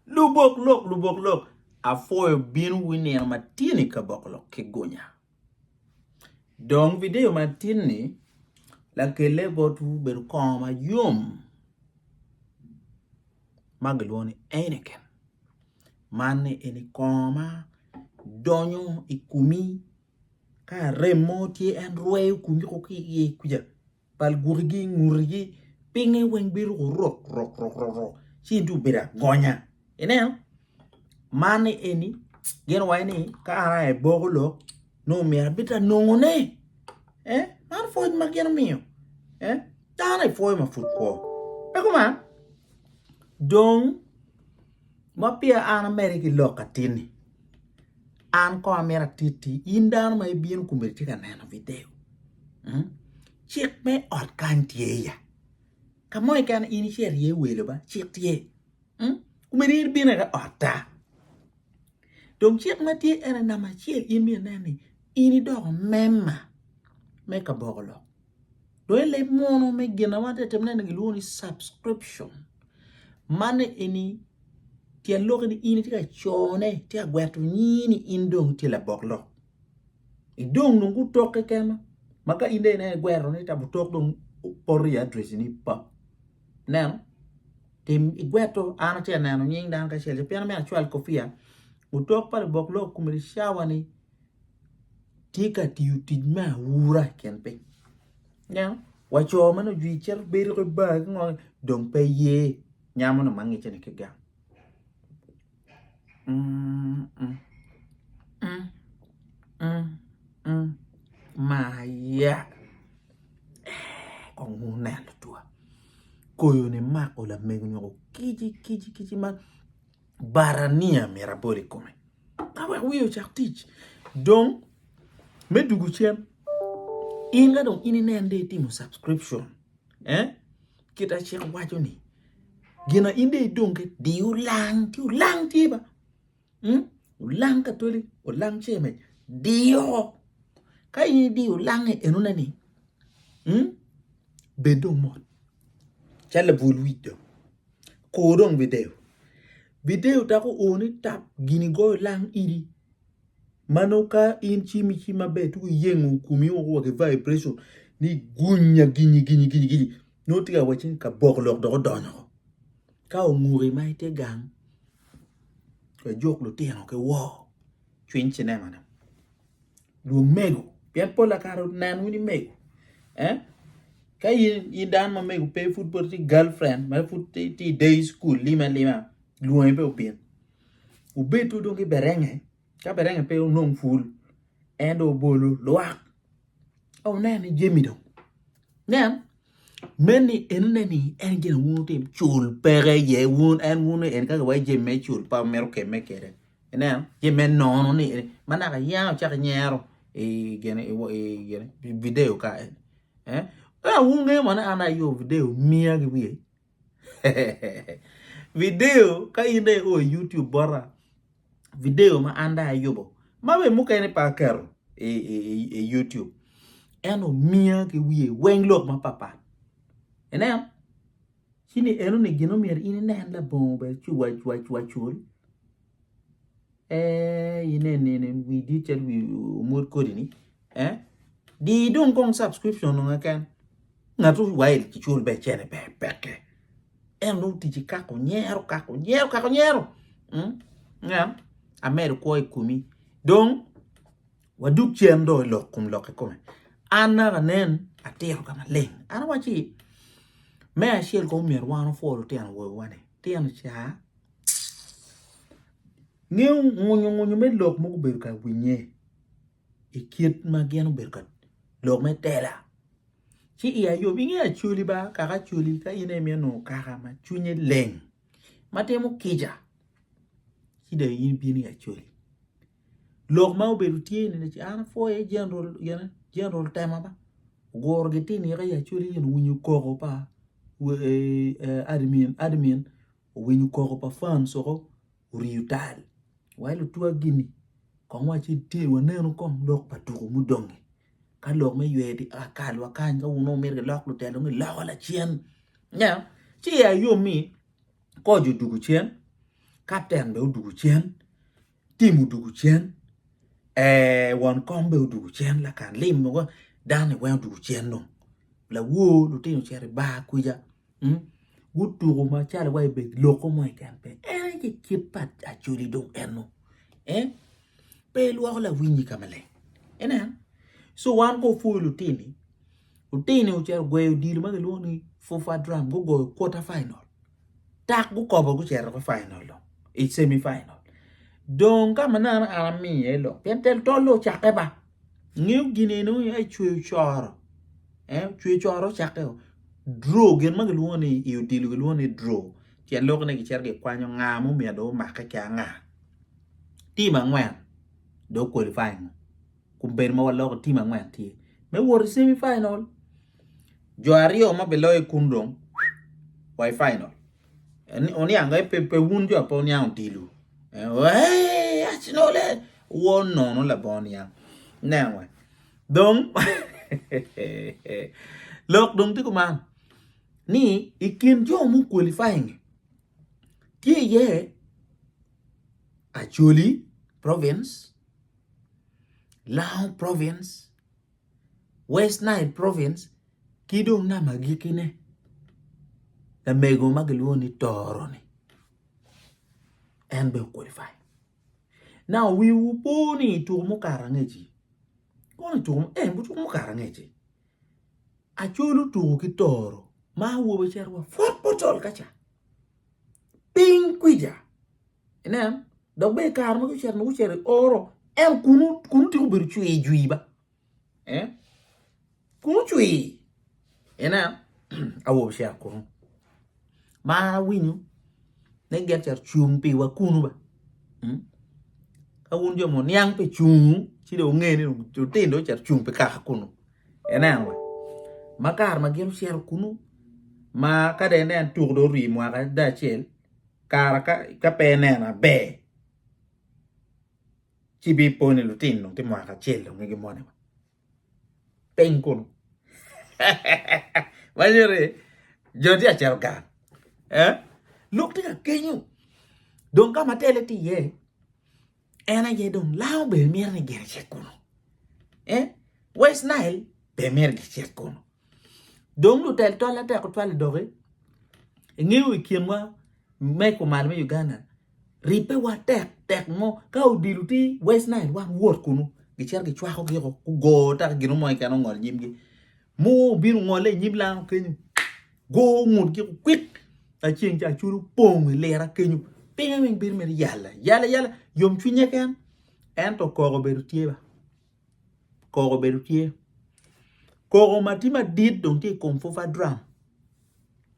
Lubok lok, lubok lok, apwoyo bino wi nino matin i kaboko lok ki gunya. Dong video matin ni lakelle botwu bedo kongo ma yom ma gilwongo ni Anakin. Man ni eni kongo ma donyo i kumi ka rem mo tye en rweyo kumi ki iye kuca. bal gukigi i ngutgi, pinge weng bedo rok rok rok rok rok ci in tung bedo agonya ineno man ni eni gin waci ni ka an aye boko lok nongo myero abed ta nongo ne eh man pwony ma gin omiyo eh dano aye pwoyo ma pud kwo pe kuman dong ma peya an ameri ki lok atinni. An kong amito atitti in dano ma ibino kun itye ka neno video cik me ot kany tye ya ka mo keken in ci irye welo ba cik tye omyero in ibin aye otta dong cik ma tye ene namba acel in myero inen ni in idoko member me kaboko lok. Dong i leb munu me gin ma watye ka timone ni gilwongo ni subscription. Man eni tyen lok ni in itye ka cone, itye ka gweto nyingi ni in dong itye labok lok. Idong dong gutok keken ma ma ka in dong ineno igwero ni tam otok dong poto i address ni pap. Ineno? Tim igweto an atye ka neno nying dano kacel pien me acwal kopiya otok pa lubok lok komiti cawa ni tye ka tiyo tic me aura i kin piny ineno wa co ma nongo ojwir cito bedo ki bar ki ngo dong pe ye nyamo nongo ma ngecce ni ki gang maya kong wun ne lutwa koyo ni mako lamego nyo kici kici kici ma bara niya myero abol i kome. Ka wek wiye ocak tic. Dong, me dugu cen, in ka dong in inen de itimo subscription, eh? Kita cik waco ni, gina in de idong ke, di ulang, ti ulang tye ba. Hmm? Ulang katoli, ulang cemej, di oko. Ka in idiyo ulange enone ni, hmm? Bed dong mot calo labwol wic do, kur dong bideyo. Bideyo dako oo ni tap gin igoyo lang idi ma nongo ka in cim icim maber tuko iyengo komi woko wa ki vibration ni gunya ginyi ginyi ginyi ginyi nongo tye ka wacci ni kabok lok dong odonyo oo. Ka onguki ma itye gang lajuk lutino ki woo cwiny cinema ne. Dwong mego, pien pol pa kare nen wun imego. Eh? Ka in, in dano ma mego pe pud pud ti girlfriend, ma pud ti, ti day school lima lima, lwongi pe obin. Ubed tu dong ki berenge, ka berenge pe onong ful, en dong obolo lwak. Oh, nen ni jemi dong. Nen. Meni enene ni en gin wun wutim cul peke ye wun en wun en kaka wai jami me cul pa mito kemme kede ineno jami me nono ni ma naka yanga ocak inyero i gene i gene video ka en eh wun ngeyo moni an aye ayo video miya ki wiye. Video ka in dong io i YouTube bota video ma an dong ayubo ma bene mukene pe aketo i YouTube en omiya ki wiye weng lok mapapat. Ineno? Ci ni enoni gin omyero in inen labongo bene cwacwacwacul. Eh ine nene wi dit cel wi omot kodi ni. Eh di dong kong subscription nonga ken. Ngatu wail ci chul be chene be pekke. En dong tici kako nyero kako nyero kako nyero. Mm. Ngam amedo kwo i kumi. Dong waduk cen do lok kum lok i kome. An naka nen atiro ka maleng. An waci me acel ko myero wan ofwo lutino wowa ni. Tino cha Ngeyo ngwonyo ngwonyo me lok ma gubedo ka winye i kit ma gin obedo ka lok me tela ci iya yom inge Acholi ba kaka Acholi ka in aye imito nongo kaka ma cwinye leng ma timo kica ci dong in ibino i Acholi lok ma obedo tye ni ni an apwoyo aye General gine General Tema ma oguro gitye nino i Acholi nyo owinyo koko pa admin admin owinyo koko pa fam soko oriyo tal wa lutwaggi-ni kong waci tye wanenu kong lok pa tuku mudongi ka lok me ywe tye ka kal wa kany ka wun dong wumito gilok lutelo-ni loko lacen nya ci ya yom ni koc odugu cen kapten bene odugu cen Tim odwogo cen, ee, won kom bene odwogo cen, lakan lim mogo dano ni weng odwogo cen dong. Lawor lutino ocito i bar kwica, mm, gutuko macalo wa ibe loko mo keken pe. En aye ki kit pa Acholi dong en-nu. Eh, pe ilwoko lawinyi ka maleng. Ineno? So wan ko pwoyo lutini, lutini ocito gweyo odilo ma kilwongo ni FUFA drum, gugoyo quarter final. dok gukobo gucito ki final dong i cemi final dong ka ma neno an amiyo iye lok pien tel tol-le ocakke ba ngeyo gin eni nongo iye cweyo coro cweyo coro ocakke o draw gin ma kilwongo ni i odilo kilwongo ni draw pien lokne gicito gikwanyo nga ma omyero dong omake ki anga tim angwen dong qualifying kun bedo ma waloko tim angwen tye me wot i semi final. Jo aryo ma biloyo kun dong wa i final. Oniango eh, pe, pe wun jo ape oniang odilo. Eh, eh, Arsenal eh. Wo nono labongo niang. Niang we. Dong, lok dong tye kuman. Ni, i kin jo mu qualifying, tye iye Acholi province, Lao province, West Nile province ki dong nam agikkine lamego ma kilwongo ni Tooro-ni en bene okwalifai. Nau wiwu po ni i tuko mukato angec-ci kono i tuko ee tuko mukato angec-ci Acol otuko ki Tooro ma awobi cito wa pwod pe ocol ka ca. piny kwica. Inen, dok bene i kare ma gucito ma gucito i oro, en kunu kunu tika obedo cwii jwii ba? Eh? Kunu cwii. Inen, awobi cito kunu. Ma awinyo ni gin cito cung piwa kunu ba? Hmm? Ka wun jo muniang pe cungu, ci dong wungene ni lutino dong cito cung pi kaka kunu. Ineno wa, ma kare ma gin ocito kunu, ma ka dong ineno tuko dong orii mwaka adada acel, kara ka pe ineno aber, ci ibipo ni lutino dong tye mwaka acel dong nge gimoni wa. Piny kunu. Manyo ni jo tye ka cito gang. Eh? Lok tye ka kenyo. Dong ka ma tele tye iye, En aye dong lango bene mito ni gin ecit kunu. Eh? West Nile bene mito gicit kunu. Dong lutel tol atek otwalo doki. Ingeyo i kinwa me kumal me Uganda, ribbe wa tek tek mo ka odilo ti West Nile wan wot kunu gicito gicwako giko gugo ta gino mo iken ongol nyimgi. Mo obino ngole inyim lango kenyo. Go ngut ki kwik aceng ca culu pong i lira kenyo. Pinge weng bedo mere yala yala yala yom cwinye ken ento koko bedo tye ba. Koko bedo tye. Koko ma tye madit dong tye i kom fufa drum.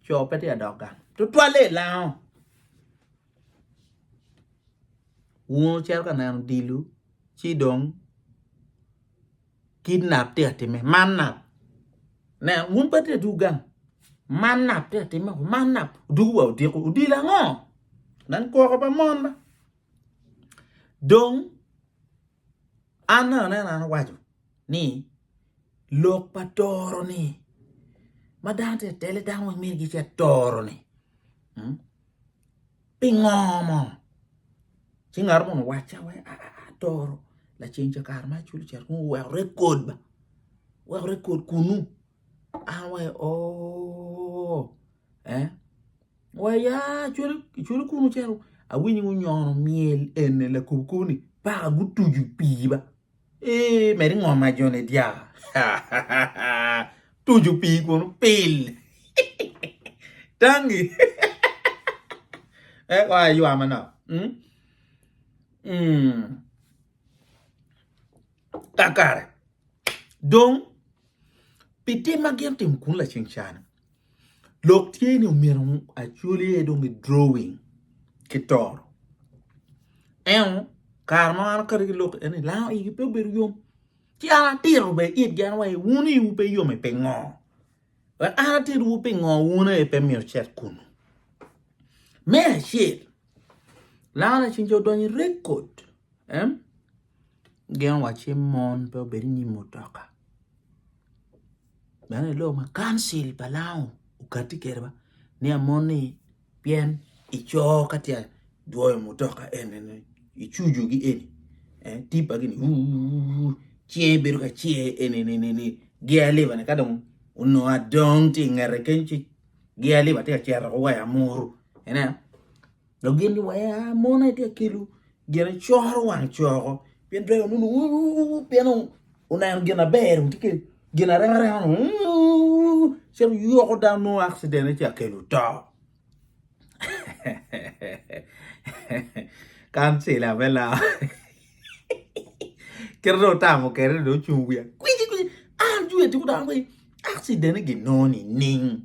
Co pe tye adok gang. Tutwalle i lango. Wun ocito ka neno dilu ci dong Kidnap tye ka timme, man nap. Ne, wun pe tye dwogo gang. Man nap tye ka timme, man nap. Odwogo wa odiko, odilo ango? Nen kwoko pa mon ma. Dong, an me anena an awaco ni lok pa toro-ni ma dano tye ka tele dano weng myero gicit toro-ni. Pingo mo? Ci ngat munu wacca we atoro laceng ca kare ma aculo cat kunu weko rekod ba. Weko rekod kunu. An we oo. Eh? We ya aculo aculo kunu calo awinyo ngunyono myel ene lakubu kubu ni paka gutuju pii ba. Ee, med ingom ma jone dya. Tuju pii kun pil. Tangi. e wa ywa manok. Mm. Mm. Kakare. Dong, pi tim ma gin timo kun laceng cana. Lok tye ni omyero acwal iye dong i drawing ki toro. Ento kare ma an akati ki lok en ni lang igi pe obedo yom. Ci an atito bene itgi an wai wun iwu pe yom i pingo? Wek an atitwu pingo wun aye pe myero cet kunu. Me acel, lang ni ceng ca odonyo i record em gin wa ci mon pe obed inyim mutoka. Meno aye lok ma Kancil pa Lango okatti kwede ba ni amoni pien i coo ka tye dwoyo mutoka eni i cucu gi eni eni tipa gini uuu cinge bedo ka cer eni ni gear lever ni kadong onongo adong tye ingete keny ci gear lever tye ka cero waya muru ineno. Dok gin giwera mona itye ka kelo gin icoro wang coko pien dwego nunu pien oneno gin aber tye ka gin arema rema cito yoko dano nongo accident ci akelo to kancila me lok kit dong otamo kede dong ocung wiye kwici kwici an jweti gudok ni accident-ni ginongo nining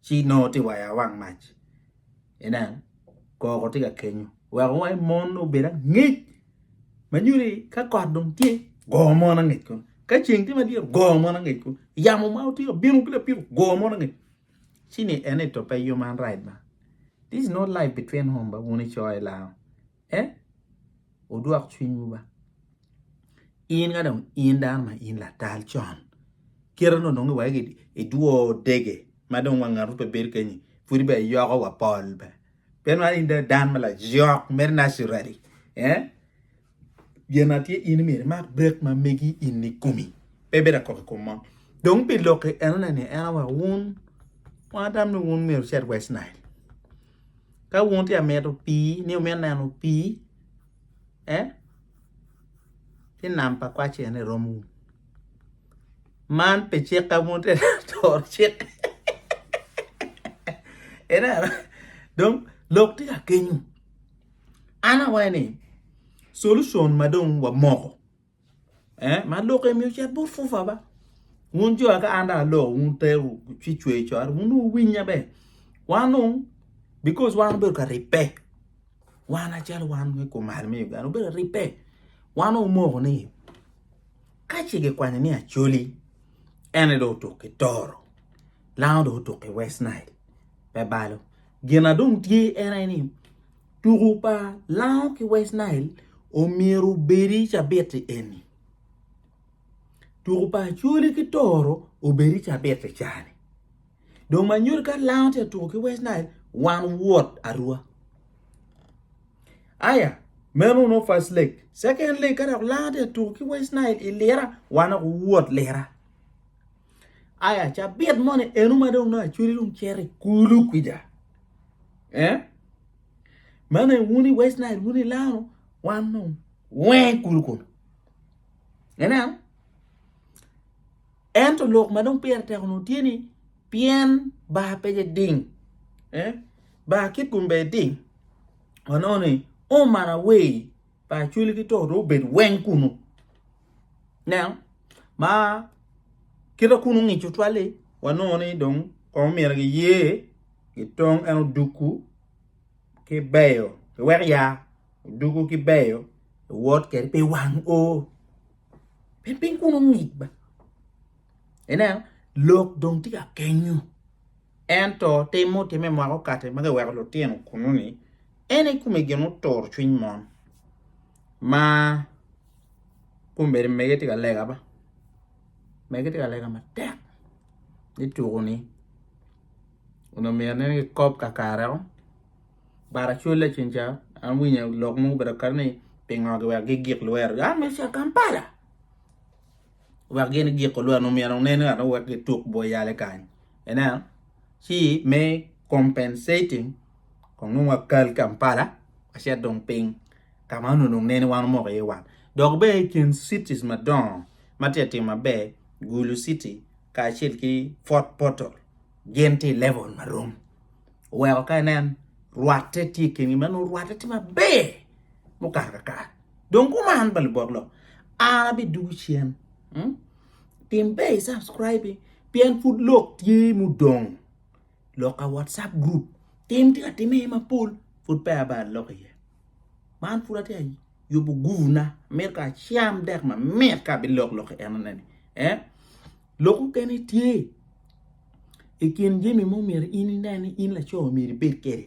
ci nongo tye waya awang mac inen koko tye ka kenyo weko wai mon nongo obed angec ma nyuto ni ka kot dong tye go mon angec kunu ka ceng tye madit go mon angec kunu yamo ma otye ka bino ki lapiko go mon angec ci ni ene to pe yom an right ma this is not life between home ba wun icoyo i lawa. e wudwok cwinywu ba in ka dong in dano ma in latal con kite no dong iwagi idwo dege ma dong wang ngato pe bedo kenyi pwodi be yoko wa pol be pe nwari in dan ma lajok mere naturally eh gin atye in myero imak brek ma megi in i komi pe bedo akok i kom mo dong pi lok-ki enone ni en awa wun wang atam ni wun myero wucit west nile Ka wun tye ka mito pii ni wumito neno pii e ki nam pa kwacci ene i romwu man pe cik ka wun tye ka toro cik ineno dong lok tye ka kenyu an awaco ni solution ma dong wamoko Eh, ma lok emi ocit bot fufa ba. Wun jo ka an da lok, wun te ci cwe cor, wun wuwinya be. Wan wun, because wan obedo ka ribbe. Wan acel wan me kumal me Uganda, obedo ribbe. Wan omoko ni, ka ci kikwanyo ni Acholi, ene do otuk ki Toro, lango do otuk ki West Nile, pe balo. Gina dong tye ene ni, tuku pa Lango ki West Nile omyero obedi cabiti eni. Tuku pa Acholi ki Toro obedi cabiti cani. Dong ma nyuto ka Lango tye ka tuku ki West Nile wan wot arua. Aya meno nongo first leg. Second leg ka dok Lango tye ka tuku ki West Nile i lira wan dok wot lira. Aya cabit moni eno ma dong nongo Acholi dong cito i kulu kwija. Eh? Mane wuni West Nile, wuni Lano, wan nung weng kulu kulu. Eneno? Ento lok ma dong pire teko nung tye ni pien bar pe je ding. Eh? Bar kit gumbe ding. Wanono ni, oh man away. pa acwele ki to dong obed weng kunu nen ma kita kunu ngico twali wanongo ni dong kono myero giye gitong en oduku ki beyo iwek ya oduku ki beyo iwot kede pi wang o pien piny kunu ngic ba ineno lok dong tye ka kenyo. Ento tim mutimme mwaka okati ma giweko lutino kunnu-ni, en i kome gin oturo cwiny mon ma kombeddi mege tye ka lega ba, mege tye ka lega matek ni tuku-ni onongo myero anene kikob kakareo but acwale ceng ca awinyo lok mo gubedo kati ni pingo giweko gigik lwerogi, an myero aca Kampala. wek gin giko lweno omyero nen ngat mo wek gituk bwo yale kany ineno ci me compensating kong nongo wakal Kampala wacit dong piny ka ma onongo dong nene wan omoko iye wat dok bene i kin cities madongo ma tye ka timo maber Gulu city kacel ki Fort Portal gin tye i level ma rom oweko ka inen rwatte tye i kingi ma nongo rwatte tye maber mukato kakare. Dong kuman pa lubok lok an abidugu cen. Hmm? Tim be i subscribe pien pud lok tye mudong. Lok a WhatsApp group tim tye ka timme mapol pud pe aba lok iye. Man pud atye yubo guvna mir ka cam dek ma mit ka bi lok lok enone ni. Eh? Lok mukene tye i kin jami mo myero in inen ni in laco myero ibed kede.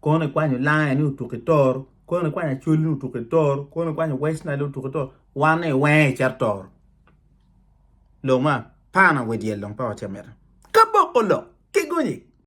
Kono ikwanyo lange ni otuk i toro, kono ikwanyo acweli ni otuk i toro, kono ikwanyo West Nile ni otuk i toro, wan ni iwenge icito toro. Lok ma pana we dyel dong pa watye amita. Kaboko lok, kigonyi.